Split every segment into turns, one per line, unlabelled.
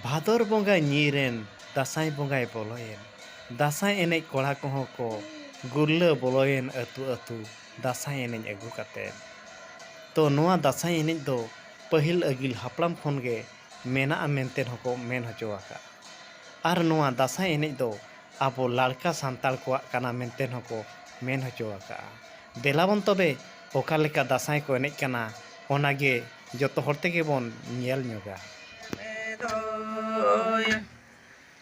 ᱵᱷᱟᱫᱚᱨ ᱵᱚᱸᱜᱟᱭ ᱧᱤᱨᱮᱱ ᱫᱟᱸᱥᱟᱭ ᱵᱚᱸᱜᱟᱭ ᱵᱚᱞᱚᱭᱮᱱ ᱫᱟᱸᱥᱟᱭ ᱮᱱᱮᱡ ᱠᱚᱲᱟ ᱠᱚᱦᱚᱸ ᱠᱚ ᱜᱩᱨᱞᱟᱹ ᱵᱚᱞᱚᱭᱮᱱ ᱟᱹᱛᱩ ᱟᱹᱛᱩ ᱫᱟᱸᱥᱟᱭ ᱮᱱᱮᱡ ᱟᱹᱜᱩ ᱠᱟᱛᱮᱫ ᱛᱚ ᱱᱚᱣᱟ ᱫᱟᱸᱥᱟᱭ ᱮᱱᱮᱡ ᱫᱚ ᱯᱟᱹᱦᱤᱞ ᱟᱹᱜᱤᱞ ᱦᱟᱯᱲᱟᱢ ᱠᱷᱚᱱ ᱜᱮ ᱢᱮᱱᱟᱜᱼᱟ ᱢᱮᱱᱛᱮ ᱦᱚᱸ ᱠᱚ ᱢᱮᱱ ᱦᱚᱪᱚ ᱟᱠᱟᱫᱼᱟ ᱟᱨ ᱱᱚᱣᱟ ᱫᱟᱸᱥᱟᱭ ᱮᱱᱮᱡ ᱫᱚ ᱟᱵᱚ ᱞᱟᱲᱠᱟ ᱥᱟᱱᱛᱟᱲ ᱠᱚᱣᱟᱜ ᱠᱟᱱᱟ ᱢᱮᱱᱛᱮ ᱦᱚᱸ ᱠᱚ ᱢᱮᱱ ᱦᱚᱪᱚ ᱟᱠᱟᱫᱼᱟ ᱫᱮᱞᱟ ᱵᱚᱱ ᱛᱚᱵᱮ ᱚᱠᱟ ᱞᱮᱠᱟ ᱫᱟᱸᱥᱟᱭ ᱠᱚ ᱮᱱᱮᱡ ᱠᱟᱱᱟ ᱚᱱᱟ ᱜᱮ ᱡᱚᱛᱚ ᱦᱚᱲ ᱛᱮᱜᱮ ᱵᱚᱱ ᱧᱮᱞ ᱧᱚᱜᱟ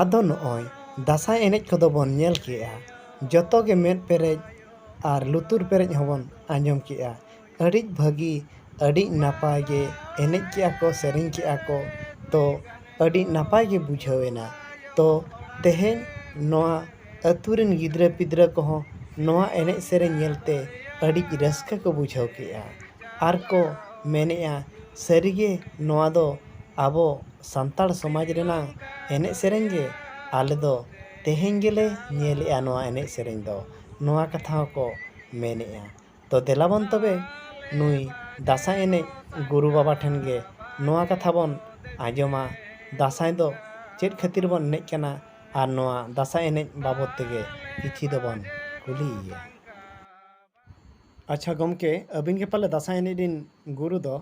ᱟᱫᱚ ᱱᱚᱜᱼᱚᱭ ᱫᱟᱸᱥᱟᱭ ᱮᱱᱮᱡ ᱠᱚᱫᱚ ᱵᱚᱱ ᱧᱮᱞ ᱠᱮᱜᱼᱟ ᱡᱚᱛᱚ ᱜᱮ ᱢᱮᱫ ᱯᱮᱨᱮᱡ ᱟᱨ ᱞᱩᱛᱩᱨ ᱯᱮᱨᱮᱡ ᱦᱚᱸ ᱵᱚᱱ ᱟᱸᱡᱚᱢ ᱠᱮᱜᱼᱟ ᱟᱹᱰᱤ ᱵᱷᱟᱹᱜᱤ ᱟᱹᱰᱤ ᱱᱟᱯᱟᱭ ᱜᱮ ᱮᱱᱮᱡ ᱠᱮᱜᱼᱟ ᱠᱚ ᱥᱮᱨᱮᱧ ᱠᱮᱜᱼᱟ ᱠᱚ ᱛᱚ ᱟᱹᱰᱤ ᱱᱟᱯᱟᱭ ᱜᱮ ᱵᱩᱡᱷᱟᱹᱣ ᱮᱱᱟ ᱛᱚ ᱛᱮᱦᱮᱧ ᱱᱚᱣᱟ ᱟᱹᱛᱩ ᱨᱮᱱ ᱜᱤᱫᱽᱨᱟᱹ ᱯᱤᱫᱽᱨᱟᱹ ᱠᱚᱦᱚᱸ ᱱᱚᱣᱟ ᱮᱱᱮᱡ ᱥᱮᱨᱮᱧ ᱧᱮᱞ ᱛᱮ ᱟᱹᱰᱤ ᱨᱟᱹᱥᱠᱟᱹ ᱠᱚ ᱵᱩᱡᱷᱟᱹᱣ ᱠᱮᱜᱼᱟ ᱟᱨ ᱠᱚ ᱢᱮᱱᱮᱜᱼᱟ ᱥᱟᱹᱨᱤ ᱜᱮ ᱱᱚᱣᱟ ᱫᱚ ᱟᱵᱚ ᱥᱟᱱᱛᱟᱲ ᱥᱚᱢᱟᱡᱽ ᱨᱮᱱᱟᱜ ᱮᱱᱮᱡ ᱥᱮᱨᱮᱧ ᱜᱮ ᱟᱞᱮ ᱫᱚ ᱛᱮᱦᱮᱧ ᱜᱮᱞᱮ ᱧᱮᱞᱮᱜᱼᱟ ᱱᱚᱣᱟ ᱮᱱᱮᱡ ᱥᱮᱨᱮᱧ ᱫᱚ ᱱᱚᱣᱟ ᱠᱟᱛᱷᱟ ᱦᱚᱸᱠᱚ ᱢᱮᱱᱮᱜᱼᱟ ᱛᱚ ᱫᱮᱞᱟ ᱵᱚᱱ ᱛᱚᱵᱮ ᱱᱩᱭ ᱫᱟᱸᱥᱟᱭ ᱮᱱᱮᱡ ᱜᱩᱨᱩ ᱵᱟᱵᱟ ᱴᱷᱮᱱ ᱜᱮ ᱱᱚᱣᱟ ᱠᱟᱛᱷᱟ ᱵᱚᱱ ᱟᱸᱡᱚᱢᱟ ᱫᱟᱸᱥᱟᱭ ᱫᱚ ᱪᱮᱫ ᱠᱷᱟᱹᱛᱤᱨ ᱵᱚᱱ ᱮᱱᱮᱡ ᱠᱟᱱᱟ ᱟᱨ ᱱᱚᱣᱟ ᱫᱟᱸᱥᱟᱭ ᱮᱱᱮᱡ ᱵᱟᱵᱚᱫ ᱛᱮᱜᱮ ᱠᱤᱪᱷᱤ ᱫᱚᱵᱚᱱ ᱠᱩᱞᱤᱭᱮᱭᱟ ᱟᱪᱪᱷᱟ ᱜᱚᱢᱠᱮ ᱟᱹᱵᱤᱱ ᱜᱮ ᱯᱟᱞᱮ ᱫᱟᱸᱥᱟᱭ ᱮᱱᱮᱡ ᱨᱤᱱ ᱜᱩᱨᱩ ᱫᱚ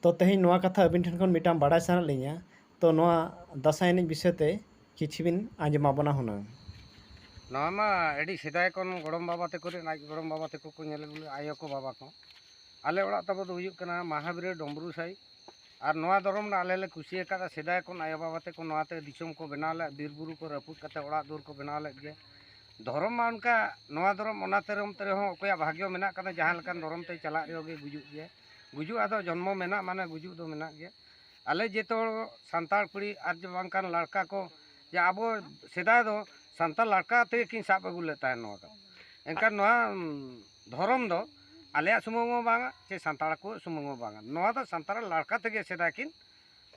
ᱛᱚ ᱛᱮᱦᱮᱧ ᱱᱚᱣᱟ ᱠᱟᱛᱷᱟ ᱟᱹᱵᱤᱱ ᱴᱷᱮᱱ ᱠᱷᱚᱱ ᱢᱤᱫᱴᱟᱝ ᱵᱟᱰᱟᱭ ᱥᱟᱱᱟᱭᱮᱫ ᱞᱤᱧᱟᱹ ᱛᱚ ᱱᱚᱣᱟ ᱫᱟᱸᱥᱟᱭ ᱮᱱᱮᱡ ᱵᱤᱥᱚᱭ ᱛᱮ ᱠᱤᱪᱷᱩ ᱵᱤᱱ ᱟᱸᱡᱚᱢ ᱟᱵᱚᱱᱟ ᱦᱩᱱᱟᱹᱝ ᱱᱚᱣᱟ ᱢᱟ ᱟᱹᱰᱤ ᱥᱮᱫᱟᱭ ᱠᱷᱚᱱ ᱜᱚᱲᱚᱢ ᱵᱟᱵᱟ ᱛᱮᱠᱚ ᱨᱮᱱ ᱟᱡ ᱜᱚᱲᱚᱢ ᱵᱟᱵᱟ ᱛᱮᱠᱚ ᱠᱚ ᱧᱮᱞ ᱟᱹᱜᱩ ᱞᱮᱫᱟ ᱟᱭᱳ ᱠᱚ ᱵᱟᱵᱟ ᱠᱚ ᱟᱞᱮ ᱚᱲᱟᱜ ᱛᱟᱵᱚ ᱫᱚ ᱦᱩᱭᱩᱜ ᱠᱟᱱᱟ ᱢᱟᱦᱟᱵᱤᱨᱟᱹ ᱰᱚᱢᱵᱨᱩ ᱥᱟᱭ ᱟᱨ ᱱᱚᱣᱟ ᱫᱷᱚᱨᱚᱢ ᱨᱮᱱᱟᱜ ᱟᱞᱮ ᱞᱮ ᱠᱩᱥᱤ ᱟᱠᱟᱫᱟ ᱥᱮᱫᱟᱭ ᱠᱷᱚᱱ ᱟᱭᱳ ᱵᱟᱵᱟ ᱛᱮᱠᱚ ᱱᱚᱣᱟᱛᱮ ᱫᱤᱥᱚᱢ ᱠᱚ ᱵᱮᱱᱟᱣ ᱞᱮᱫ ᱵᱤᱨ ᱵᱩᱨᱩ ᱠᱚ ᱨᱟᱹᱯᱩᱫ ᱠᱟᱛᱮ ᱚᱲᱟᱜ ᱫᱩᱣᱟᱹᱨ ᱠᱚ ᱵᱮᱱᱟᱣ ᱞᱮᱫ ᱜᱮᱭᱟ ᱫᱷᱚᱨᱚᱢ ᱢᱟ ᱚᱱᱠᱟ ᱱᱚᱣᱟ ᱫᱷᱚᱨᱚᱢ ᱚᱱᱟ ᱫᱷᱚᱨᱚᱢ ᱛᱮ ᱨᱮᱦᱚᱸ ᱚᱠᱚᱭᱟᱜ ᱵᱷᱟᱜᱽᱭᱚ ᱢᱮᱱᱟᱜ ᱟᱠᱟᱫᱟ ᱡᱟᱦᱟᱸ ᱞᱮᱠᱟᱱ ᱫᱷᱚᱨᱚᱢ ᱛᱮ ᱪᱟᱞᱟᱜ ᱨᱮᱦᱚᱸ ᱜᱮ ᱜᱩᱡᱩᱜ ᱜᱮᱭᱟ ᱜᱩᱡᱩᱜ ᱟᱫᱚ ᱡᱚᱱᱢᱚ ᱢᱮᱱᱟᱜ ᱢᱟᱱᱮ ᱜᱩᱡᱩᱜ ᱫᱚ ᱢᱮᱱᱟᱜ ᱜᱮᱭᱟ ᱟᱞᱮ ᱡᱚᱛᱚ ᱦᱚᱲ ᱥᱟᱱᱛᱟᱲ ᱠᱩᱲᱤ ᱟᱨ ᱡᱮ ᱵᱟᱝᱠᱷᱟᱱ ᱞᱟᱲᱠᱟ ᱠᱚ ᱡᱮ ᱟᱵᱚ ᱥᱮᱫᱟᱭ ᱫᱚ ᱥᱟᱱᱛᱟᱲ ᱞᱟᱲᱠᱟ ᱛᱮᱜᱮ ᱠᱤᱱ ᱥᱟᱵ ᱟᱹᱜᱩ ᱞᱮᱫ ᱛᱟᱦᱮᱸᱫ ᱱᱚᱣᱟ ᱫᱚ ᱮᱱᱠᱷᱟᱱ ᱱᱚᱣᱟ ᱫᱷᱚᱨᱚᱢ ᱫᱚ ᱟᱞᱮᱭᱟᱜ ᱥᱩᱢᱩᱝ ᱦᱚᱸ ᱵᱟᱝᱟ ᱥᱮ ᱥᱟᱱᱛᱟᱲ ᱠᱚᱣᱟᱜ ᱥᱩᱢᱩᱝ ᱦᱚᱸ ᱵᱟᱝᱟ ᱱᱚᱣᱟ ᱫᱚ ᱥᱟᱱᱛᱟᱲ ᱞᱟᱲᱠᱟ ᱛᱮᱜᱮ ᱥᱮᱫᱟᱭ ᱠᱤᱱ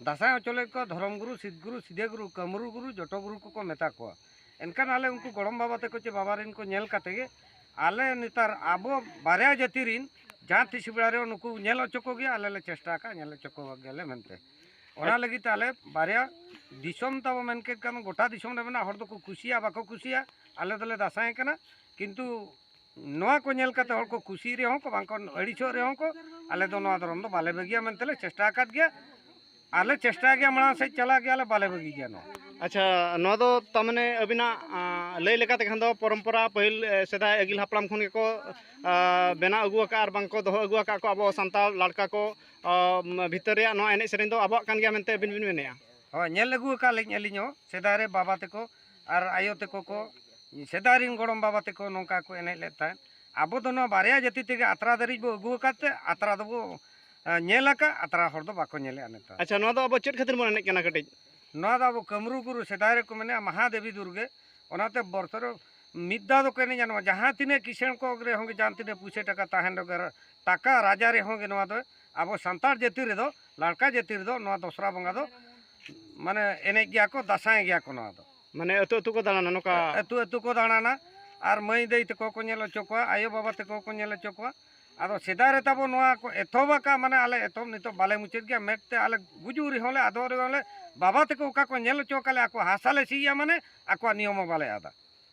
ᱫᱟᱥᱟᱸᱭ ᱦᱚᱪᱚ ᱞᱮᱫ ᱠᱚᱣᱟ ᱫᱷᱚᱨᱚᱢ ᱜᱩᱨᱩ ᱥᱤᱫᱽ ᱜᱩᱨᱩ ᱥᱤᱫᱮ ᱜᱩᱨᱩ ᱠᱟᱹᱢᱨᱩ ᱜᱩᱨᱩ ᱡᱚᱛᱚ ᱜᱩᱨᱩ ᱠᱚᱠᱚ ᱢᱮᱛᱟ ᱠᱚᱣᱟ ᱮᱱᱠᱷᱟᱱ ᱟᱞᱮ ᱩᱱᱠᱩ ᱜᱚᱲᱚᱢ ᱵᱟᱵᱟ ᱛᱟᱠᱚ ᱪᱮ ᱵᱟᱵᱟ ᱨᱮᱱ ᱠᱚ ᱧᱮᱞ ᱠᱟᱛᱮ ᱜᱮ ᱟᱞᱮ ᱱᱮᱛᱟᱨ ᱟᱵᱚ ᱵᱟᱨᱭᱟ ᱡᱟᱹᱛᱤ ᱨᱮᱱ ᱡᱟᱦᱟᱸ ᱛᱤᱥ ᱵᱮᱲᱟ ᱨᱮ ᱱᱩᱠᱩ ᱧᱮᱞ ᱦᱚᱪᱚ ᱠᱚᱜᱮ ᱟᱞᱮ ᱞᱮ ᱪᱮᱥᱴᱟ ᱟᱠᱟᱫ ᱧᱮᱞ ᱦᱚᱪᱚ ᱠᱚ ᱜᱮᱞᱮ ᱢᱮᱱᱛᱮ ᱚᱱᱟ ᱞᱟᱹᱜᱤᱫ ᱛᱮ ᱟᱞᱮ ᱵᱟᱨᱭᱟ ᱫᱤᱥᱚᱢ ᱛᱟᱵᱚ ᱢᱮᱱ ᱠᱮᱫ ᱠᱷᱟᱱ ᱜᱚᱴᱟ ᱫᱤᱥᱚᱢ ᱨᱮ ᱢᱮᱱᱟᱜ ᱦᱚᱲ ᱫᱚᱠᱚ ᱠᱩᱥᱤᱭᱟᱜᱼᱟ ᱵᱟᱠᱚ ᱠᱩᱥᱤᱭᱟᱜᱼᱟ ᱟᱞᱮ ᱫᱚᱞᱮ ᱫᱟᱥᱟᱸᱭ ᱠᱟᱱᱟ ᱠᱤᱱᱛᱩ ᱱᱚᱣᱟ ᱠᱚ ᱧᱮᱞ ᱠᱟᱛᱮ ᱦᱚᱲ ᱠᱚ ᱠᱩᱥᱤᱜ ᱨᱮᱦᱚᱸ ᱠᱚ ᱵᱟᱝ ᱠᱚ ᱟᱹᱲᱤᱥᱚᱜ ᱨᱮᱦᱚᱸ ᱠᱚ ᱟᱞᱮ ᱫᱚ ᱱᱚᱣᱟ ᱫᱷᱚᱨᱚᱢ ᱫᱚ ᱵᱟᱞᱮ ᱵᱟᱹᱜᱤᱭᱟ ᱢᱮᱱᱛᱮ ᱞᱮ ᱪᱮᱥᱴᱟ ᱟᱠᱟᱫ ᱜᱮᱭᱟ ᱟᱨ ᱞᱮ ᱪᱮᱥᱴᱟᱭ ᱜᱮᱭᱟ ᱢᱟᱲᱟᱝ ᱥᱮᱫ ᱪᱟᱞᱟᱜ ᱜᱮᱭᱟ ᱞᱮ ᱵᱟᱞᱮ ᱵᱟᱹᱜᱤ ᱜᱮᱭᱟ ᱱᱚᱣᱟ ᱟᱪᱪᱷᱟ ᱱᱚᱣᱟ ᱫᱚ ᱛᱟᱨᱢᱟᱱᱮ ᱟᱹᱵᱤᱱᱟᱜ ᱟᱸ, ᱞᱟᱹᱭ ᱞᱮᱠᱟᱛᱮ ᱠᱷᱟᱱ ᱫᱚ ᱯᱚᱨᱚᱢᱯᱚᱨᱟ ᱯᱟᱹᱦᱤᱞ ᱮ, ᱥᱮᱫᱟᱭ ᱟᱹᱜᱤᱞ ᱦᱟᱯᱲᱟᱢ ᱠᱷᱚᱱ ᱜᱮᱠᱚ ᱟ, ᱵᱮᱱᱟᱣ ᱟᱹᱜᱩ ᱟᱠᱟᱫ ᱟᱨ ᱵᱟᱝ ᱠᱚ ᱫᱚᱦᱚ ᱟᱹᱜᱩ ᱟᱠᱟᱫ ᱠᱚ ᱟᱵᱚ ᱥᱟᱱᱛᱟᱲ ᱞᱟᱲᱠᱟ ᱠᱚ ᱟ, ᱢ, ᱵᱷᱤᱛᱟᱹᱨ ᱨᱮᱭᱟᱜ ᱱᱚᱣᱟ ᱮᱱᱮᱡ ᱥᱮᱨᱮᱧ ᱫᱚ ᱟᱵᱚᱣᱟᱜ ᱠᱟᱱ ᱜᱮᱭᱟ ᱢᱮᱱᱛᱮ ᱟᱹᱵᱤᱱ ᱵᱤᱱ ᱢᱮᱱᱮᱫᱼᱟ ᱦᱳᱭ ᱧᱮᱞ ᱟᱹᱜᱩ ᱟᱠᱟᱫ ᱞᱤᱧ ᱟᱹᱞᱤᱧ ᱦᱚᱸ ᱥᱮᱫᱟᱭ ᱨᱮ ᱵᱟᱵᱟ ᱛᱮᱠᱚ ᱟᱨ ᱟᱭᱳ ᱛᱟᱠᱚ ᱠᱚ ᱥᱮᱫᱟᱭ ᱨᱮᱱ ᱜᱚᱲᱚᱢ ᱵᱟᱵᱟ ᱛᱟᱠᱚ ᱱᱚᱝᱠᱟ ᱠᱚ ᱮᱱᱮᱡ ᱞᱮᱫ ᱛᱟᱦᱮᱸᱫ ᱟᱵᱚ ᱫᱚ ᱱᱚᱣᱟ ᱵᱟᱨᱭᱟ ᱡᱟᱹᱛᱤ ᱛᱮᱜᱮ ᱟᱛᱨᱟ ᱫᱷᱟᱹᱨᱤᱡ ᱵᱚ ᱟᱹᱜᱩ ᱟᱠᱟᱫ ᱛᱮ ᱟᱛᱨᱟ ᱫᱚᱵᱚ ᱧᱮᱞ ᱟᱠᱟᱫ ᱟᱛᱨᱟ ᱦᱚᱲ ᱫᱚ ᱵᱟᱠᱚ ᱧᱮᱞᱮᱫᱼᱟ ᱱᱮᱛᱟᱨ ᱟᱪᱪᱷᱟ ᱱᱚᱣᱟ ᱫᱚ ᱟᱵᱚ ᱪᱮᱫ ᱠᱷᱟᱹᱛᱤᱨ ᱵᱚᱱ ᱮᱱᱮᱡ ᱠᱟᱱᱟ ᱠᱟᱹᱴᱤᱡ ᱱᱚᱣᱟ ᱫᱚ ᱟᱵᱚ ᱠᱟᱹᱢᱨᱩ ᱜᱩᱨᱩ ᱥᱮᱫᱟᱭ ᱨᱮᱠᱚ ᱢᱮᱱᱮᱫᱼᱟ ᱢᱟᱦᱟᱫᱮᱵᱤ ᱫᱩᱨᱜᱮ ᱚᱱᱟᱛᱮ ᱵᱚᱨᱥᱚ ᱨᱮ ᱢᱤᱫ ᱫᱷᱟᱣ ᱫᱚᱠᱚ ᱮᱱᱮᱡᱟ ᱱᱚᱣᱟ ᱡᱟᱦᱟᱸ ᱛᱤᱱᱟᱹᱜ ᱠᱤᱥᱟᱹᱬ ᱠᱚ ᱨᱮᱦᱚᱸ ᱜᱮ ᱡᱟᱦᱟᱸ ᱛᱤᱱᱟᱹᱜ ᱯᱩᱭᱥᱟᱹ ᱴᱟᱠᱟ ᱛᱟᱦᱮᱱ ᱨᱮᱦᱚᱸ ᱜᱮ ᱴᱟᱠᱟ ᱨᱟᱡᱟ ᱨᱮᱦᱚᱸ ᱜᱮ ᱱᱚᱣᱟ ᱫᱚ ᱟᱵᱚ ᱥᱟᱱᱛᱟᱲ ᱡᱟᱹᱛᱤ ᱨᱮᱫᱚ ᱞᱟᱲᱠᱟ ᱡᱟᱹᱛᱤ ᱨᱮᱫᱚ ᱱᱚᱣᱟ ᱫᱚᱥᱨᱟ ᱵᱚᱸᱜᱟ ᱫᱚ ᱢᱟᱱᱮ ᱮᱱᱮᱡ ᱜᱮᱭᱟ ᱠᱚ ᱫᱟᱸᱥᱟᱭ ᱜᱮᱭᱟ ᱠᱚ ᱱᱚᱣᱟ ᱫᱚ ᱢᱟᱱᱮ ᱟᱹᱛᱩ ᱟᱹᱛᱩ ᱠᱚ ᱫᱟᱬᱟᱱᱟ ᱱᱚᱝᱠᱟ ᱟᱹᱛᱩ ᱟᱹᱛᱩ ᱠᱚ ᱫᱟᱬᱟᱱᱟ ᱟᱨ ᱢᱟᱹᱭ ᱫᱟᱹᱭ ᱛᱟᱠᱚ ᱠᱚ ᱧᱮᱞ ᱦᱚᱪᱚ ᱠᱚᱣᱟ ᱟᱭᱳ ᱵᱟᱵᱟ ᱛᱟᱠᱚ ᱠᱚ ᱧᱮᱞ ᱦᱚᱪᱚ ᱠᱚᱣᱟ ᱟᱫᱚ ᱥᱮᱫᱟᱭ ᱨᱮ ᱛᱟᱵᱚ ᱱᱚᱣᱟ ᱠᱚ ᱮᱛᱚᱦᱚᱵ ᱟᱠᱟᱫ ᱢᱟᱱᱮ ᱟᱞᱮ ᱮᱛᱚᱦᱚᱵ ᱱᱤᱛᱚᱜ ᱵᱟᱞᱮ ᱢᱩᱪᱟᱹᱫ ᱜᱮᱭᱟ ᱢᱮᱫ ᱛᱮ ᱟᱞᱮ ᱜᱩᱡᱩᱜ ᱨᱮᱦᱚᱸ ᱞᱮ ᱟᱫᱚᱜ ᱨᱮᱦᱚᱸ ᱞᱮ ᱵᱟᱵᱟ ᱛᱟᱠᱚ ᱚᱠᱟ ᱠᱚ ᱧᱮᱞ ᱦᱚᱪᱚ ᱟᱠᱟᱫ ᱞᱮ ᱟᱠᱚ ᱦᱟᱥᱟ ᱞᱮ ᱥᱤᱭᱟ ᱢᱟᱱᱮ ᱟᱠᱚᱣᱟᱜ ᱱᱤᱭᱚᱢ ᱦᱚᱸ ᱵᱟᱞᱮ ᱟᱫᱟ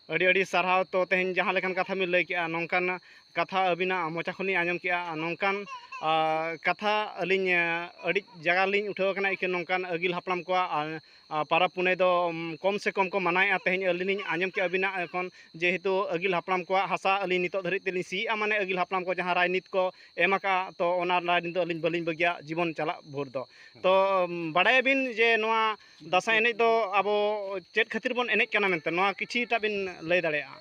ᱟᱹᱰᱤ ᱟᱹᱰᱤ ᱥᱟᱨᱦᱟᱣ ᱛᱚ ᱛᱮᱦᱮᱧ ᱡᱟᱦᱟᱸ ᱞᱮᱠᱟᱱ ᱠᱟᱛᱷᱟ ᱵᱤᱱ ᱞᱟᱹᱭ ᱠᱮᱜᱼᱟ ᱱᱚᱝᱠᱟᱱ ᱠᱟᱛᱷᱟ ᱟᱹᱵᱤᱱᱟᱜ ᱢᱚᱪᱟ ᱠᱷᱚᱱ ᱞᱤᱧ ᱟᱸᱡᱚᱢ ᱠᱮᱜᱼᱟ ᱟᱨ ᱱᱚᱝᱠᱟᱱ ᱠᱟᱛᱷᱟ ᱟᱹᱞᱤᱧ ᱟᱹᱰᱤ ᱡᱟᱭᱜᱟ ᱨᱮᱞᱤᱧ ᱩᱴᱷᱟᱹᱣ ᱠᱟᱱᱟ ᱤᱠᱷᱟᱹᱱ ᱱᱚᱝᱠᱟᱱ ᱟᱹᱜᱤᱞ ᱦᱟᱯᱲᱟᱢ ᱠᱚᱣᱟᱜ ᱯᱟᱨᱟᱵᱽ ᱯᱩᱱᱟᱹᱭ ᱫᱚ ᱠᱚᱢ ᱥᱮ ᱠᱚᱢ ᱠᱚ ᱢᱟᱱᱟᱣᱮᱜᱼᱟ ᱛᱮᱦᱮᱧ ᱟᱹᱞᱤᱧ ᱞᱤᱧ ᱟᱸᱡᱚᱢ ᱠᱮᱜᱼᱟ ᱟᱹᱵᱤᱱᱟᱜ ᱠᱷᱚᱱ ᱡᱮᱦᱮᱛᱩ ᱟᱹᱜᱤᱞ ᱦᱟᱯᱲᱟᱢ ᱠᱚᱣᱟᱜ ᱦᱟᱥᱟ ᱟᱹᱞᱤᱧ ᱱᱤᱛᱚᱜ ᱫᱷᱟᱹᱨᱤᱡ ᱛᱮᱞᱤᱧ ᱥᱤᱭᱮᱜᱼᱟ ᱢᱟᱱᱮ ᱟᱹᱜᱤᱞ ᱦᱟᱯᱲᱟᱢ ᱠᱚ ᱡᱟᱦᱟᱸ ᱨᱟᱡᱽᱱᱤᱛ ᱠᱚ ᱮᱢ ᱟᱠᱟᱜᱼᱟ ᱛᱚ ᱚᱱᱟ ᱨᱟᱡᱽᱱᱤᱛ ᱫᱚ ᱟᱹᱞᱤᱧ ᱵᱟᱹᱞᱤᱧ ᱵᱟᱹᱜᱤᱭᱟ ᱡᱤᱵᱚᱱ ᱪᱟᱞᱟᱜ ᱵᱷᱳᱨ ᱫᱚ ᱛᱚ ᱵᱟᱲᱟᱭᱟᱵᱤᱱ ᱡᱮ ᱱᱚᱣᱟ ᱫᱟᱸᱥᱟᱭ ᱮᱱᱮᱡ ᱫᱚ ᱟᱵᱚ ᱪᱮᱫ ᱠᱷᱟᱹᱛᱤᱨ ᱵᱚᱱ ᱮᱱᱮᱡ ᱠᱟᱱᱟ ᱢᱮᱱᱛᱮ ᱱᱚᱣᱟ ᱠᱤᱪᱷᱤᱴᱟ ᱵᱤᱱ ᱞᱟᱹᱭ ᱫᱟᱲᱮᱭᱟᱜᱼᱟ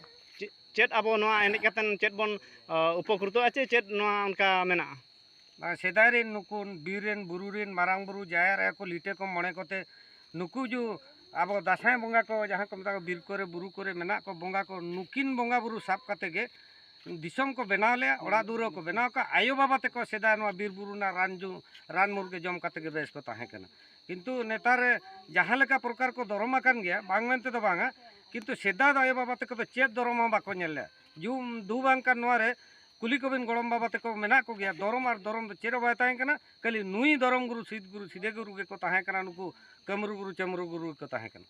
ᱪᱮᱫ ᱟᱵᱚ ᱱᱚᱣᱟ ᱮᱱᱮᱡ ᱠᱟᱛᱮ ᱪᱮᱫ ᱵᱚᱱ ᱩᱯᱚᱠᱨᱤᱛᱚᱜᱼᱟ ᱪᱮ ᱪᱮᱫ ᱱᱚᱣᱟ ᱚᱱᱠᱟ ᱢᱮᱱᱟᱜᱼᱟ ᱥᱮᱫᱟᱭ ᱨᱮᱱ ᱱᱩᱠᱩ ᱵᱤᱨ ᱨᱮᱱ ᱵᱩᱨᱩ ᱨᱮᱱ ᱢᱟᱨᱟᱝ ᱵᱩᱨᱩ ᱡᱟᱦᱮᱨ ᱟᱭᱳ ᱠᱚ ᱞᱤᱴᱟᱹ ᱠᱚ ᱢᱚᱬᱮ ᱠᱚᱛᱮ ᱱᱩᱠᱩ ᱡᱩ ᱟᱵᱚ ᱫᱟᱸᱥᱟᱭ ᱵᱚᱸᱜᱟ ᱠᱚ ᱡᱟᱦᱟᱸ ᱠᱚ ᱢᱮᱛᱟ ᱠᱚ ᱵᱤᱨ ᱠᱚᱨᱮ ᱵᱩᱨᱩ ᱠᱚᱨᱮ ᱢᱮᱱᱟᱜ ᱠᱚ ᱵᱚᱸᱜᱟ ᱠᱚ ᱱᱩᱠᱤᱱ ᱵᱚᱸᱜᱟ ᱵᱩᱨᱩ ᱥᱟᱵ ᱠᱟᱛᱮ ᱜᱮ ᱫᱤᱥᱚᱢ ᱠᱚ ᱵᱮᱱᱟᱣ ᱞᱮᱭᱟ ᱚᱲᱟᱜ ᱫᱩᱣᱟᱹᱨ ᱠᱚ ᱵᱮᱱᱟᱣ ᱠᱟᱜ ᱟᱭᱳ ᱵᱟᱵᱟ ᱛᱮᱠᱚ ᱥᱮᱫᱟᱭ ᱱᱚᱣᱟ ᱵᱤᱨ ᱵᱩᱨᱩ ᱨᱮᱱᱟᱜ ᱨᱟᱱ ᱡᱚ ᱨᱟᱱ ᱢᱩᱨᱜᱟᱹ ᱡᱚᱢ ᱠᱟᱛᱮ ᱜᱮ ᱵᱮᱥ ᱠᱚ ᱛᱟᱦᱮᱸ ᱠᱟᱱᱟ ᱠᱤᱱᱛᱩ ᱱᱮᱛᱟᱨ ᱡᱟᱦᱟᱸ ᱞᱮᱠᱟ ᱯᱨᱚᱠᱟᱨ ᱠᱚ ᱫᱚᱨᱚᱢ ᱟᱠᱟᱱ ᱜᱮᱭᱟ ᱵᱟᱝ ᱢᱮᱱᱛᱮ ᱫᱚ ᱵᱟᱝᱟ ᱠᱤᱱᱛᱩ ᱥᱮᱫᱟᱭ ᱫᱚ ᱟᱭᱳ ᱵᱟᱵᱟ ᱛᱟᱠᱚ ᱫᱚ ᱪᱮᱫ ᱫᱚᱨᱚᱢ ᱦᱚᱸ ᱵᱟᱠᱚ ᱧᱮᱞ ᱞᱮᱫᱼᱟ ᱡᱩᱢ ᱫᱩ ᱵᱟᱝ ᱠᱟᱱ ᱱᱚᱣᱟ ᱨᱮ ᱠᱩᱞᱤ ᱠᱚᱵᱤᱱ ᱜᱚᱲᱚᱢ ᱵᱟᱵᱟ ᱛᱟᱠᱚ ᱢᱮᱱᱟᱜ ᱠᱚᱜᱮᱭᱟ ᱫᱚᱨᱚᱢ ᱟᱨ ᱫᱚᱨᱚᱢ ᱫᱚ ᱪᱮᱫ ᱦᱚᱸ ᱵᱟᱭ ᱛᱟᱦᱮᱸ ᱠᱟᱱᱟ ᱠᱷᱟᱹᱞᱤ ᱱᱩᱭ ᱫᱚᱨᱚᱢ ᱜᱩᱨᱩ ᱥᱤᱫ ᱜᱩᱨᱩ ᱥᱤᱫᱮ ᱜᱩᱨᱩ ᱜᱮᱠᱚ ᱛᱟᱦᱮᱸ ᱠᱟᱱᱟ ᱱᱩᱠᱩ ᱠᱟᱹᱢᱨᱩ ᱜᱩᱨᱩ ᱪᱟᱹᱢᱨᱩ ᱜᱩᱨᱩ ᱜᱮᱠᱚ ᱛᱟᱦᱮᱸ ᱠᱟᱱᱟ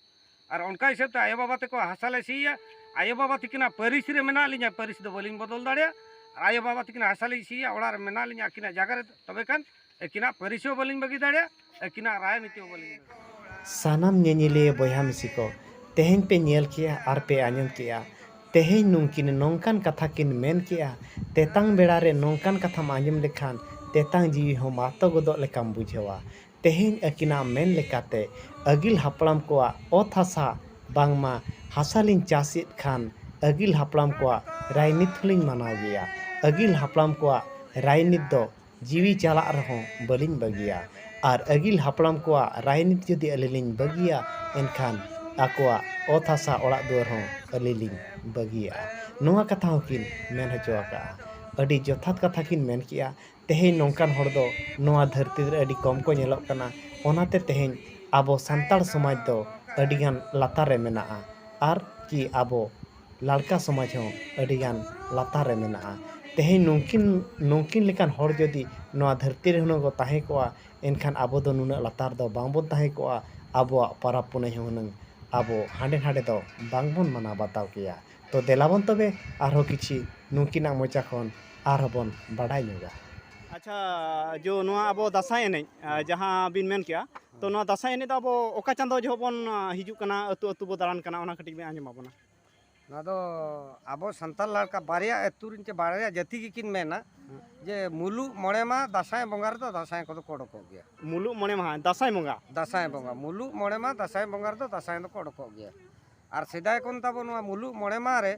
ᱟᱨ ᱚᱱᱠᱟ ᱦᱤᱥᱟᱹᱵ ᱛᱮ ᱟᱭᱳ ᱵᱟᱵᱟ ᱛᱟᱠᱚ ᱦᱟᱥᱟ ᱞᱮ ᱥᱤᱭᱟ ᱟᱭᱳ ᱵᱟᱵᱟ ᱛᱤᱠᱤᱱᱟᱜ ᱯᱟᱹᱨᱤᱥ ᱨᱮ ᱢᱮᱱᱟᱜ ᱞᱤᱧᱟ ᱯᱟᱹᱨᱤᱥ ᱫᱚ ᱵᱟᱹᱞᱤᱧ ᱵᱚᱫᱚᱞ ᱫᱟᱲᱮᱭᱟᱜᱼᱟ ᱟᱭᱳ ᱵᱟᱵᱟ ᱛᱤᱠᱤᱱᱟᱜ ᱦᱟᱥᱟ ᱞᱤᱧ ᱥᱤᱭᱟ ᱚᱲᱟᱜ ᱨᱮ ᱢᱮᱱᱟᱜ ᱞᱤᱧᱟ ᱟᱹᱠᱤᱱᱟᱜ ᱡᱟᱭᱜᱟ ᱨᱮ ᱛᱚᱵᱮ ᱠᱷᱟᱱ ᱟᱹᱠᱤᱱᱟᱜ ᱯᱟᱹᱨᱤᱥ ᱦᱚᱸ ᱵᱟᱹᱞᱤᱧ ᱵᱟᱹᱜᱤ ᱫᱟᱲᱮᱭᱟᱜ ᱟᱹᱠᱤᱱᱟᱜ ᱨᱟᱡᱽᱱᱤᱛᱤ ᱦᱚᱸ ᱵᱟᱹᱞᱤᱧ ᱵᱟᱹᱜᱤ ᱥᱟᱱᱟᱢ ᱧᱮᱧᱮᱞᱤᱭᱟᱹ ᱵᱚᱭᱦᱟ ᱢᱤᱥᱤ ᱠᱚ ᱛᱮᱦᱮᱧ ᱯᱮ ᱧᱮᱞ ᱠᱮᱜᱼᱟ ᱟᱨ ᱯᱮ ᱟᱸᱡᱚᱢ ᱠᱮᱜᱼᱟ ᱛᱮᱦᱮᱧ ᱱᱩᱝᱠᱤᱱ ᱱᱚᱝᱠᱟᱱ ᱠᱟᱛᱷᱟ ᱠᱤᱱ ᱢᱮᱱ ᱠᱮᱜᱼᱟ ᱛᱮᱛᱟᱝ ᱵᱮᱲᱟ ᱨᱮ ᱱᱚᱝᱠᱟᱱ ᱠᱟᱛᱷᱟᱢ ᱟᱸᱡᱚᱢ ᱞᱮᱠᱷᱟᱱ ᱛᱮᱛᱟᱝ ᱡᱤᱣᱤ ᱦᱚᱸ ᱢᱟᱛᱚ ᱜᱚᱫᱚᱜ ᱞᱮᱠᱟᱢ ᱵᱩᱡᱷᱟᱹᱣᱟ ᱛᱮᱦᱮᱧ ᱟᱹᱠᱤᱱᱟᱜ ᱢᱮᱱ ᱞᱮᱠᱟᱛᱮ ᱟᱹᱜᱤᱞ ᱦᱟᱯᱲᱟᱢ ᱠᱚᱣᱟᱜ ᱚᱛ ᱦᱟᱥᱟ ᱵᱟᱝᱢᱟ ᱦᱟᱥᱟ ᱞᱤᱧ ᱪᱟᱥ ᱮᱫ ᱠᱷᱟᱱ ᱟᱹᱜᱤᱞ ᱦᱟᱯᱲᱟᱢ ᱠᱚᱣᱟᱜ ᱨᱟᱡᱽᱱᱤᱛᱤ ᱦᱚᱸᱞᱤᱧ ᱢᱟᱱᱟᱣ ᱜᱮᱭᱟ ᱟᱹᱜᱤᱞ ᱦᱟᱯᱲᱟᱢ ᱠᱚᱣᱟᱜ ᱨᱟᱡᱽᱱᱤᱛᱤ ᱫᱚ ᱡᱤᱣᱤ ᱪᱟᱞᱟᱜ ᱨᱮᱦᱚᱸ ᱵᱟᱹᱞᱤᱧ ᱵᱟᱹᱜᱤᱭᱟ ᱟᱨ ᱟᱹᱜᱤᱞ ᱦᱟᱯᱲᱟᱢ ᱠᱚᱣᱟᱜ ᱨᱟᱭᱱᱤᱛ ᱡᱩᱫᱤ ᱟᱹᱞᱤᱧ ᱞᱤᱧ ᱵᱟᱹᱜᱤᱭᱟ ᱮᱱᱠᱷᱟᱱ ᱟᱠᱚᱣᱟᱜ ᱚᱛ ᱦᱟᱥᱟ ᱚᱲᱟᱜ ᱫᱩᱣᱟᱹᱨ ᱦᱚᱸ ᱟᱹᱞᱤᱧ ᱞᱤᱧ ᱵᱟᱹᱜᱤᱭᱟᱜᱼᱟ ᱱᱚᱣᱟ ᱠᱟᱛᱷᱟ ᱦᱚᱸ ᱠᱤᱱ ᱢᱮᱱ ᱦᱚᱪᱚ ᱟᱠᱟᱫᱼᱟ ᱟᱹᱰᱤ ᱡᱚᱛᱷᱟᱛ ᱠᱟᱛᱷᱟ ᱠᱤᱱ ᱢᱮᱱ ᱠᱮᱫᱼᱟ ᱛᱮᱦᱮᱧ ᱱᱚᱝᱠᱟᱱ ᱦᱚᱲ ᱫᱚ ᱱᱚᱣᱟ ᱫᱷᱟᱹᱨᱛᱤ ᱨᱮ ᱟᱹᱰᱤ ᱠᱚᱢ ᱠᱚ ᱧᱮᱞᱚᱜ ᱠᱟᱱᱟ ᱚᱱᱟᱛᱮ ᱛᱮᱦᱮᱧ ᱟᱵᱚ ᱥᱟᱱᱛᱟᱲ ᱥᱚᱢᱟᱡᱽ ᱫᱚ ᱟᱹᱰᱤ ᱜᱟᱱ ᱞᱟᱛᱟᱨ ᱨᱮ ᱢᱮᱱᱟᱜᱼᱟ ᱟᱨ ᱠᱤ ᱟᱵᱚ ᱞᱟᱲᱠᱟ ᱥᱚᱢᱟᱡᱽ ᱦᱚᱸ ᱟᱹᱰᱤ ᱜᱟᱱ ᱞᱟᱛᱟᱨ ᱨᱮ ᱢᱮᱱᱟᱜᱼᱟ ᱛᱮᱦᱮᱧ ᱱᱩᱠᱤᱱ ᱱᱩᱠᱤᱱ ᱞᱮᱠᱟᱱ ᱦᱚᱲ ᱡᱩᱫᱤ ᱱᱚᱣᱟ ᱫᱷᱟᱹᱨᱛᱤ ᱨᱮ ᱦᱩᱱᱟᱹᱝ ᱠᱚ ᱛᱟᱦᱮᱸ ᱠᱚᱜᱼᱟ ᱮᱱᱠᱷᱟᱱ ᱟᱵᱚ ᱫᱚ ᱱᱩᱱᱟᱹᱜ ᱞᱟᱛᱟᱨ ᱫᱚ ᱵᱟᱝ ᱵᱚᱱ ᱛᱟᱦᱮᱸ ᱠᱚᱜᱼᱟ ᱟᱵᱚᱣᱟᱜ ᱯᱚᱨᱚᱵᱽ ᱯᱩᱱᱟᱹᱭ ᱦᱚᱸ ᱦᱩᱱᱟᱹᱝ ᱟᱵᱚ ᱦᱟᱸᱰᱮ ᱱᱷᱟᱰᱮ ᱫᱚ ᱵᱟᱝ ᱵᱚᱱ ᱢᱟᱱᱟᱣ ᱵᱟᱛᱟᱣ ᱠᱮᱭᱟ ᱛᱚ ᱫᱮᱞᱟ ᱵᱚᱱ ᱛᱚᱵᱮ ᱟᱨᱦᱚᱸ ᱠᱤᱪᱷᱩ ᱱᱩᱠᱤᱱᱟᱜ ᱢᱚᱪᱟ ᱠᱷᱚᱱ ᱟᱨᱦᱚᱸ ᱵᱚᱱ ᱵᱟᱰᱟᱭ ᱧᱚᱜᱟ ᱟᱪᱪᱷᱟ ᱡᱳ ᱱᱚᱣᱟ ᱟᱵᱚ ᱫᱟᱸᱥᱟᱭ ᱮᱱᱮᱡ ᱡᱟᱦᱟᱸ ᱵᱤᱱ ᱢᱮᱱ ᱠᱮᱜᱼᱟ ᱛᱚ ᱱᱚᱣᱟ ᱫᱟᱸᱥᱟᱭ ᱮᱱᱮᱡ ᱫᱚ ᱟᱵᱚ ᱚᱠᱟ ᱪᱟᱸᱫᱳ ᱡᱚᱦᱚᱜ ᱵᱚᱱ ᱦᱤᱡᱩᱜ ᱠᱟᱱᱟ ᱟᱹᱛᱩ ᱟᱹᱛᱩ ᱵᱚ ᱫᱟᱬᱟᱱ ᱠᱟᱱᱟ ᱚᱱᱟ ᱠᱟᱹᱴᱤᱡ ᱵᱮᱱ ᱟᱸᱡᱚᱢ ᱟᱵᱚᱱᱟ ᱱᱚᱣᱟ ᱫᱚ ᱟᱵᱚ ᱥᱟᱱᱛᱟᱲ ᱞᱟᱲᱠᱟ ᱵᱟᱨᱭᱟ ᱟᱹᱛᱩ ᱨᱮᱱ ᱪᱮ ᱵᱟᱨᱭᱟ ᱡᱟᱹᱛᱤ ᱜᱮᱠᱤᱱ ᱢᱮᱱᱟ ᱡᱮ ᱢᱩᱞᱩᱜ ᱢᱚᱬᱮ ᱢᱟ ᱫᱟᱸᱥᱟᱭ ᱵᱚᱸᱜᱟ ᱨᱮᱫᱚ ᱫᱟᱸᱥᱟᱭ ᱠᱚᱫᱚ ᱠᱚ ᱚᱰᱚᱠᱚᱜ ᱜᱮᱭᱟ ᱢᱩᱞᱩᱜ ᱢᱚᱬᱮ ᱢᱟᱦᱟ ᱫᱟᱸᱥᱟᱭ ᱵᱚᱸᱜᱟ ᱫᱟᱸᱥᱟᱭ ᱵᱚᱸᱜᱟ ᱢᱩᱞᱩᱜ ᱢᱚᱬᱮ ᱢᱟ ᱫᱟᱸᱥᱟᱭ ᱵᱚᱸᱜᱟ ᱨᱮᱫᱚ ᱫᱟᱸᱥᱟᱭ ᱫᱚᱠᱚ ᱚᱰᱚᱠᱚᱜ ᱜᱮᱭᱟ ᱟᱨ ᱥᱮᱫᱟᱭ ᱠᱷᱚᱱ ᱛᱟᱵᱚ ᱱᱚᱣᱟ ᱢᱩᱞᱩᱜ ᱢᱚᱬᱮ ᱢᱟᱦᱟ ᱨᱮ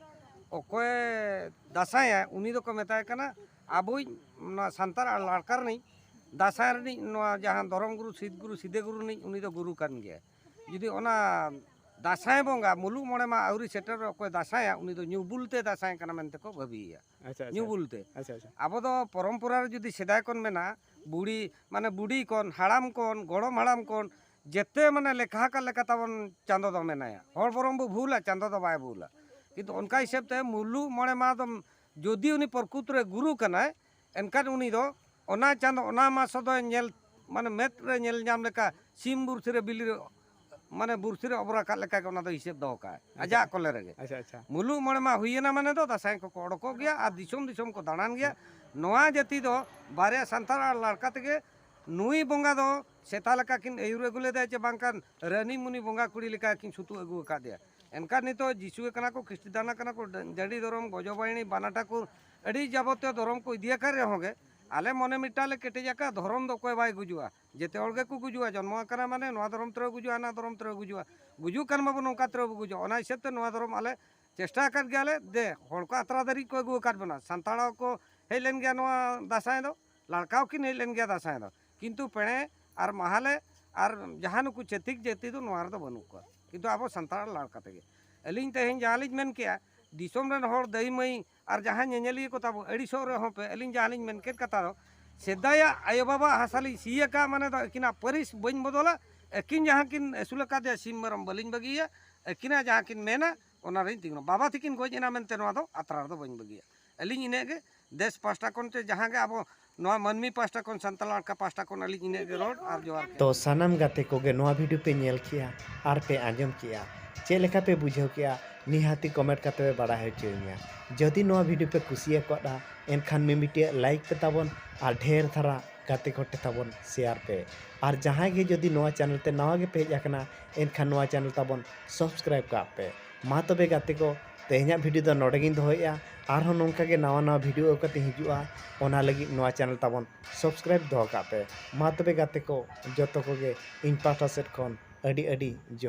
ᱚᱠᱚᱭ ᱫᱟᱸᱥᱟᱭᱟ ᱩᱱᱤ ᱫᱚᱠᱚ ᱢᱮᱛᱟᱭ ᱠᱟᱱᱟ ᱟᱵᱚᱭᱤᱡ ᱱᱚᱣᱟ ᱥᱟᱱᱛᱟᱲ ᱞᱟᱲᱠᱟ ᱨᱤᱱᱤᱡ ᱫᱟᱸᱥᱟᱭ ᱨᱤᱱᱤᱡ ᱱᱚᱣᱟ ᱡᱟᱦᱟᱸ ᱫᱷᱚᱨᱚᱢ ᱜᱩᱨᱩ ᱥᱤᱫ ᱜᱩᱨᱩ ᱥᱤᱫᱮ ᱜᱩᱨᱩ ᱨᱤᱱᱤᱡ ᱩᱱᱤ ᱫᱚ ᱜᱩᱨᱩ ᱠᱟᱱ ᱜᱮᱭᱟᱭ ᱡᱩᱫᱤ ᱚᱱᱟ ᱫᱟᱸᱥᱟᱭ ᱵᱚᱸᱜᱟ ᱢᱩᱞᱩᱜ ᱢᱚᱬᱮ ᱢᱟ ᱟᱹᱣᱨᱤ ᱥᱮᱴᱮᱨᱚᱜ ᱚᱠᱚᱭ ᱫᱟᱸᱥᱟᱭᱟ ᱩᱱᱤ ᱫᱚ ᱧᱩ ᱵᱩᱞ ᱛᱮ ᱫᱟᱸᱥᱟᱭ ᱠᱟᱱᱟ ᱢᱮᱱᱛᱮ ᱠᱚ ᱵᱷᱟᱹᱵᱤᱭᱮᱭᱟ ᱟᱪᱪᱷᱟ ᱟᱪᱪᱷᱟ ᱧᱩ ᱵᱩᱞ ᱛᱮ ᱟᱪᱪᱷᱟ ᱟᱪᱪᱷᱟ ᱟᱵᱚ ᱫᱚ ᱯᱚᱨᱚᱢᱯᱚᱨᱟ ᱨᱮ ᱡᱩᱫᱤ ᱥᱮᱫᱟᱭ ᱠᱷᱚᱱ ᱢᱮᱱᱟᱜᱼᱟ ᱵᱩᱲᱤ ᱢᱟᱱᱮ ᱵᱩᱰᱤ ᱠᱷᱚᱱ ᱦᱟᱲᱟᱢ ᱠᱷᱚᱱ ᱜᱚᱲᱚᱢ ᱦᱟᱲᱟᱢ ᱠᱷᱚᱱ ᱡᱮᱛᱮ ᱢᱟᱱᱮ ᱞᱮᱠᱷᱟ ᱟᱠᱟᱫ ᱞᱮᱠᱟ ᱛᱟᱵᱚᱱ ᱪᱟᱸᱫᱚ ᱫᱚ ᱢᱮᱱᱟᱭᱟ ᱦᱚᱲ ᱵᱚᱨᱚᱝ ᱵᱚ ᱵᱷᱩᱞᱟ ᱪᱟᱸᱫᱚ ᱫᱚ ᱵᱟᱭ ᱵᱷᱩᱞᱟ ᱠᱤᱱᱛᱩ ᱚᱱᱠᱟ ᱦᱤᱥᱟᱹᱵ ᱛᱮ ᱢᱩᱞᱩᱜ ᱢᱚᱬᱮ ᱢᱟᱦᱟ ᱫᱚ ᱡᱩᱫᱤ ᱩᱱᱤ ᱯᱨᱚᱠᱩᱛ ᱨᱮ ᱜᱩᱨᱩ ᱠᱟᱱᱟᱭ ᱮᱱᱠᱷᱟᱱ ᱩᱱᱤ ᱫᱚ ᱚᱱᱟ ᱪᱟᱸᱫᱚ ᱚᱱᱟ ᱢᱟᱥ ᱫᱚᱭ ᱧᱮᱞ ᱢᱟᱱᱮ ᱢᱮᱫ ᱨᱮ ᱧᱮᱞ ᱧᱟᱢ ᱞᱮᱠᱟ ᱥᱤᱢ ᱵᱩᱨᱥᱤ ᱨᱮ ᱵᱤᱞᱤ ᱨᱮ ᱢᱟᱱᱮ ᱵᱩᱨᱥᱤ ᱨᱮ ᱚᱵᱚᱨ ᱟᱠᱟᱫ ᱞᱮᱠᱟ ᱜᱮ ᱚᱱᱟ ᱫᱚ ᱦᱤᱥᱟᱹᱵ ᱫᱚᱦᱚ ᱠᱟᱜᱼᱟᱭ ᱟᱡᱟᱜ ᱠᱚᱞᱮ ᱨᱮᱜᱮ ᱟᱪᱪᱷᱟ ᱟᱪᱪᱷᱟ ᱢᱩᱞᱩᱜ ᱢᱚᱬᱮ ᱢᱟ ᱦᱩᱭᱮᱱᱟ ᱢᱟᱱᱮ ᱫᱚ ᱫᱟᱥᱟᱭ ᱠᱚᱠᱚ ᱚᱰᱚᱠᱚᱜ ᱜᱮᱭᱟ ᱟᱨ ᱫᱤᱥᱚᱢ ᱫᱤᱥᱚᱢ ᱠᱚ ᱫᱟᱬᱟᱱ ᱜᱮᱭᱟ ᱱᱚᱣᱟ ᱡᱟᱹᱛᱤ ᱫᱚ ᱵᱟᱨᱭᱟ ᱥᱟᱱᱛᱟᱲ ᱟᱨ ᱞᱟᱲᱠᱟ ᱛᱮᱜᱮ ᱱᱩᱭ ᱵᱚᱸᱜᱟ ᱫᱚ ᱥᱮᱛᱟ ᱞᱮᱠᱟ ᱠᱤᱱ ᱟᱹᱭᱩᱨ ᱟᱹᱜᱩ ᱞᱮᱫᱮᱭᱟ ᱪᱮ ᱵᱟᱝᱠᱷᱟᱱ ᱨᱟᱹᱱᱤ ᱢᱩᱱᱤ ᱵᱚᱸᱜᱟ ᱠᱩᱲᱤ ᱞᱮᱠᱟ ᱠᱤᱱ ᱥᱩᱛᱩᱜ ᱟᱹᱜᱩ ᱟᱠᱟᱫᱮᱭᱟ ᱮᱱᱠᱷᱟᱱ ᱱᱤᱛᱚᱜ ᱡᱤᱥᱩ ᱠᱟᱱᱟ ᱠᱚ ᱠᱷᱨᱤᱥᱴᱤᱫᱟᱱ ᱠᱟᱱᱟ ᱠᱚ ᱡᱟᱹᱰᱤ ᱫᱷᱚᱨᱚᱢ ᱜᱚᱡᱚᱵᱟᱭᱤᱱᱤ ᱵᱟᱱᱟ ᱴᱷᱟᱠᱩᱨ ᱟᱹᱰᱤ ᱡᱟᱵᱚᱛᱤᱭᱚ ᱫᱷᱚᱨᱚᱢ ᱠᱚ ᱤᱫᱤ ᱟᱠᱟᱫ ᱨᱮᱦᱚᱸ ᱜᱮ ᱟᱞᱮ ᱢᱚᱱᱮ ᱢᱤᱫᱴᱟᱝ ᱞᱮ ᱠᱮᱴᱮᱡ ᱟᱠᱟᱫ ᱫᱷᱚᱨᱚᱢ ᱫᱚ ᱚᱠᱚᱭ ᱵᱟᱭ ᱜᱩᱡᱩᱜᱼᱟ ᱡᱮᱛᱮ ᱦᱚᱲ ᱜᱮᱠᱚ ᱜᱩᱡᱩᱜᱼᱟ ᱡᱚᱱᱢᱚ ᱟᱠᱟᱱᱟ ᱢᱟᱱᱮ ᱱᱚᱣᱟ ᱫᱷᱚᱨᱚᱢ ᱛᱮᱨᱮ ᱜᱩᱡᱩᱜᱼᱟ ᱦᱟᱱᱟ ᱫᱷᱚᱨᱚᱢ ᱛᱮᱨᱮ ᱜᱩᱡᱩᱜᱼᱟ ᱜᱩᱡᱩᱜ ᱠᱟᱱ ᱢᱟᱵᱚᱱ ᱱᱚᱝᱠᱟ ᱛᱮᱨᱮ ᱵᱚ ᱜᱩᱡᱩᱜᱼᱟ ᱚᱱᱟ ᱦᱤᱥᱟᱹᱵ ᱛᱮ ᱱᱚᱣᱟ ᱫᱷᱚᱨᱚᱢ ᱟᱞᱮ ᱪᱮᱥᱴᱟ ᱟᱠᱟᱫ ᱜᱮᱭᱟᱞᱮ ᱫᱮ ᱦᱚᱲ ᱠᱚ ᱟᱛᱨᱟ ᱫᱷᱟᱹᱨᱤᱡ ᱠᱚ ᱟᱹᱜᱩ ᱟᱠᱟᱫ ᱵᱚᱱᱟ ᱥᱟᱱᱛᱟᱲ ᱦᱚᱸᱠᱚ ᱦᱮᱡ ᱞᱮᱱ ᱜᱮᱭᱟ ᱱᱚᱣᱟ ᱫᱟᱸᱥᱟᱭ ᱫᱚ ᱞᱟᱲᱠᱟᱣ ᱠᱤᱱ ᱦᱮᱡ ᱞᱮᱱ ᱜᱮᱭᱟ ᱫᱟᱥᱟᱸᱭ ᱫᱚ ᱠᱤᱱᱛᱩ ᱯᱮᱬᱮ ᱟᱨ ᱢᱟᱦᱟᱞᱮ ᱟᱨ ᱡᱟᱦᱟᱸ ᱱᱩᱠᱩ ᱪᱷᱟᱹᱛᱤᱠ ᱡᱟᱹᱛᱤ ᱫᱚ ᱱᱚᱣᱟ ᱨᱮᱫᱚ ᱵᱟᱹᱱᱩᱜ ᱠᱚᱣᱟ ᱠᱤᱱᱛᱩ ᱟᱵᱚ ᱥᱟᱱᱛᱟᱲ ᱞᱟᱲ ᱠᱟᱛᱮ ᱜᱮ ᱟᱹᱞᱤᱧ ᱛᱮᱦᱮᱧ ᱡᱟᱦᱟᱸ ᱞᱤᱧ ᱢᱮᱱ ᱠᱮᱜᱼᱟ ᱫᱤᱥᱚᱢ ᱨᱮᱱ ᱦᱚᱲ ᱫᱟᱹᱭ ᱢᱟᱹᱭ ᱟᱨ ᱡᱟᱦᱟᱸ ᱧᱮᱧᱮᱞᱤᱭᱟᱹ ᱠᱚ ᱛᱟᱵᱚ ᱟᱹᱲᱤᱥᱚᱜ ᱨᱮᱦᱚᱸ ᱯᱮ ᱟᱹᱞᱤᱧ ᱡᱟᱦᱟᱸ ᱞᱤᱧ ᱢᱮᱱ ᱠᱮᱫ ᱠᱟᱛᱷᱟ ᱫᱚ ᱥᱮᱫᱟᱭᱟᱜ ᱟᱭᱳ ᱵᱟᱵᱟ ᱦᱟᱥᱟ ᱞᱤᱧ ᱥᱤ ᱟᱠᱟᱫ ᱢᱟᱱᱮ ᱫᱚ ᱟᱹᱠᱤᱱᱟᱜ ᱯᱟᱹᱨᱤᱥ ᱵᱟᱹᱧ ᱵᱚᱫᱚᱞᱟ ᱟᱹᱠᱤᱱ ᱡᱟᱦᱟᱸ ᱠᱤᱱ ᱟᱹᱥᱩᱞ ᱟᱠᱟᱫᱮᱭᱟ ᱥᱤᱢ ᱢᱮᱨᱚᱢ ᱵᱟᱹᱞᱤᱧ ᱵᱟᱹᱜᱤᱭᱟ ᱟᱹᱠᱤᱱᱟᱜ ᱡᱟᱦᱟᱸ ᱠᱤᱱ ᱢᱮᱱᱟ ᱚᱱᱟ ᱨᱮᱧ ᱛᱤᱸᱜᱩᱱᱟ ᱵᱟᱵᱟ ᱛᱤᱠᱤᱱ ᱜᱚᱡ ᱮᱱᱟ ᱢᱮᱱᱛᱮ ᱱᱚᱣᱟ ᱫᱚ ᱟᱛᱨᱟ ᱨᱮᱫᱚ ᱵᱟᱹᱧ ᱵᱟᱹᱜᱤᱭᱟ ᱟᱹᱞᱤᱧ ᱤᱱᱟᱹᱜ ᱜᱮ ᱫᱮᱥ ᱯᱟᱥᱴᱟ ᱠᱷᱚᱱ ᱛᱮ ᱡᱟᱦᱟᱸ ᱜᱮ ᱟᱵᱚ ᱱᱚᱣᱟ ᱢᱟᱹᱱᱢᱤ ᱯᱟᱥᱴᱟ ᱠᱷᱚᱱ ᱥᱟᱱᱛᱟᱲ ᱟᱲᱠᱟ ᱯᱟᱥᱴᱟ ᱠᱷᱚᱱ ᱟᱹᱞᱤᱧ ᱤᱱᱟᱹᱜ ᱜᱮ ᱨᱚᱲ ᱟᱨ ᱡᱚᱦᱟᱨ ᱜᱮ ᱛᱚ ᱥᱟᱱᱟᱢ ᱜᱟᱛᱮ ᱠᱚᱜᱮ ᱱᱚᱣᱟ ᱵᱷᱤᱰᱤᱭᱳ ᱯᱮ ᱧᱮᱞ ᱠᱮᱜᱼᱟ ᱟᱨ ᱯᱮ ᱟᱸᱡᱚᱢ ᱠᱮᱜᱼᱟ ᱪᱮᱫ ᱞᱮᱠᱟ ᱯᱮ ᱵᱩᱡᱷᱟᱹᱣ ᱠᱮᱜᱼᱟ ᱱᱤᱦᱟᱹᱛᱤ ᱠᱚᱢᱮᱱᱴ ᱠᱟᱛᱮ ᱯᱮ ᱵᱟᱲᱟᱭ ᱦᱚᱪᱚᱭᱤᱧᱟ ᱡᱩᱫᱤ ᱱᱚᱣᱟ ᱵᱷᱤᱰᱤᱭᱳ ᱯᱮ ᱠᱩᱥᱤᱭᱟᱠᱟᱫᱼᱟ ᱮᱱᱠᱷᱟᱱ ᱢᱤᱢᱤᱫᱴᱤᱡ ᱞᱟᱭᱤᱠ ᱯᱮ ᱛᱟᱵᱚᱱ ᱟᱨ ᱰᱷᱮᱨ ᱫᱷᱟᱨᱟ ᱜᱟᱛᱮ ᱠᱚ ᱴᱷᱮᱱ ᱛᱟᱵᱚᱱ ᱥᱮᱭᱟᱨ ᱯᱮ ᱟᱨ ᱡᱟᱦᱟᱸᱭ ᱜᱮ ᱡᱩᱫᱤ ᱱᱚᱣᱟ ᱪᱮᱱᱮᱞ ᱛᱮ ᱱᱟᱣᱟ ᱜᱮᱯᱮ ᱦᱮᱡ ᱟᱠᱟᱱᱟ ᱮᱱᱠᱷᱟᱱ ᱱᱚᱣᱟ ᱪᱮᱱᱮᱞ ᱛᱟᱵᱚᱱ ᱥᱟᱵᱥᱠᱨᱟᱭᱤᱵᱽ ᱠᱟᱜ ᱯᱮ ᱢᱟ ᱛᱚᱵᱮ ᱜᱟᱛᱮ ᱠᱚ ᱛᱮᱦᱮᱧᱟᱜ ᱵᱷᱤᱰᱤᱭᱳ ᱫᱚ ᱱᱚᱰᱮ ᱜᱤᱧ ᱫᱚᱦᱚᱭᱮᱜᱼᱟ ᱟᱨᱦᱚᱸ ᱱᱚᱝᱠᱟ ᱜᱮ ᱱᱟᱣᱟ ᱱᱟᱣᱟ ᱵᱷᱤᱰᱤᱭᱳ ᱟᱹᱜᱩ ᱠᱟᱛᱮ ᱦᱤᱡᱩᱜᱼᱟ ᱚᱱᱟ ᱞᱟᱹᱜᱤᱫ ᱱᱚᱣᱟ ᱪᱮᱱᱮᱞ ᱛᱟᱵᱚᱱ ᱥᱚᱵᱥᱠᱨᱟᱭᱤᱵᱽ ᱫᱚᱦᱚ ᱠᱟᱜ ᱯᱮ ᱢᱟ ᱛᱚᱵᱮ ᱜᱟᱛᱮ ᱠᱚ ᱡᱚᱛᱚ ᱠᱚᱜᱮ ᱤᱧ ᱯᱟᱦᱴᱟ ᱥᱮᱫ ᱠᱷᱚᱱ ᱟᱹᱰᱤ ᱟᱹᱰᱤ ᱡᱚᱦᱟᱨ